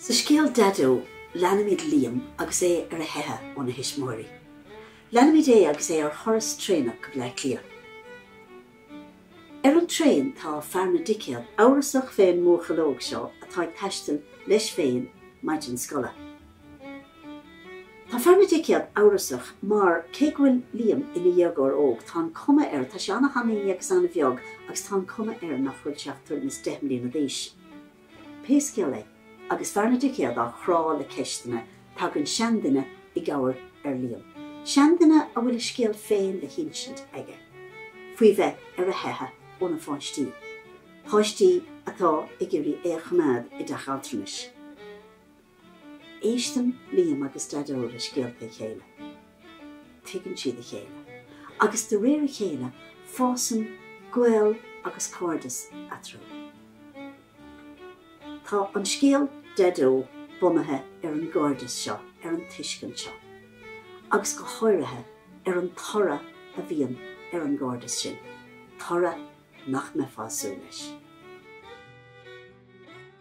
Sa scéal 'Daideo' leanaimid Liam agus é ar a theitheadh óna thuismitheoirí. Leanaimid é agus é ar thuras traenach go Bleá Cliath. Ar an traein tá fear na dticéad amhrasach fén mbuachaill óg seo atá ag taisteal leis féin maidin scoile. Tá fear na dticéad amhrasach mar, cé go bhfuil Liam ina dhéagóir óg, tá an cuma air, tá sé an-thanaí agus an-bheag agus tá an cuma air nach bhfuil sé ach tuairim is deich mbliana d'aois. Pé scéal é, agus Fear na Dticéad á chrá le ceisteanna, tagann seanduine i gcabhair ar Liam, seanduine a bhfuil a scéal féin le hinsint aige faoi bheith ar a theitheadh óna pháistí, páistí atá ag iarraidh é a choimeád i dteach altranais. Éisteann Liam agus Daideo le scéalta a chéile. Tuigeann siad a chéile. Agus de réir a chéile, fásann gaol agus cairdeas eatarthu. Tá an scéal Daideo bunaithe ar an gcairdeas seo, ar an tuiscint seo. Agus go háirithe, ar an toradh a bhíonn ar an gcairdeas sin, toradh nach mbeifeá ag súil leis.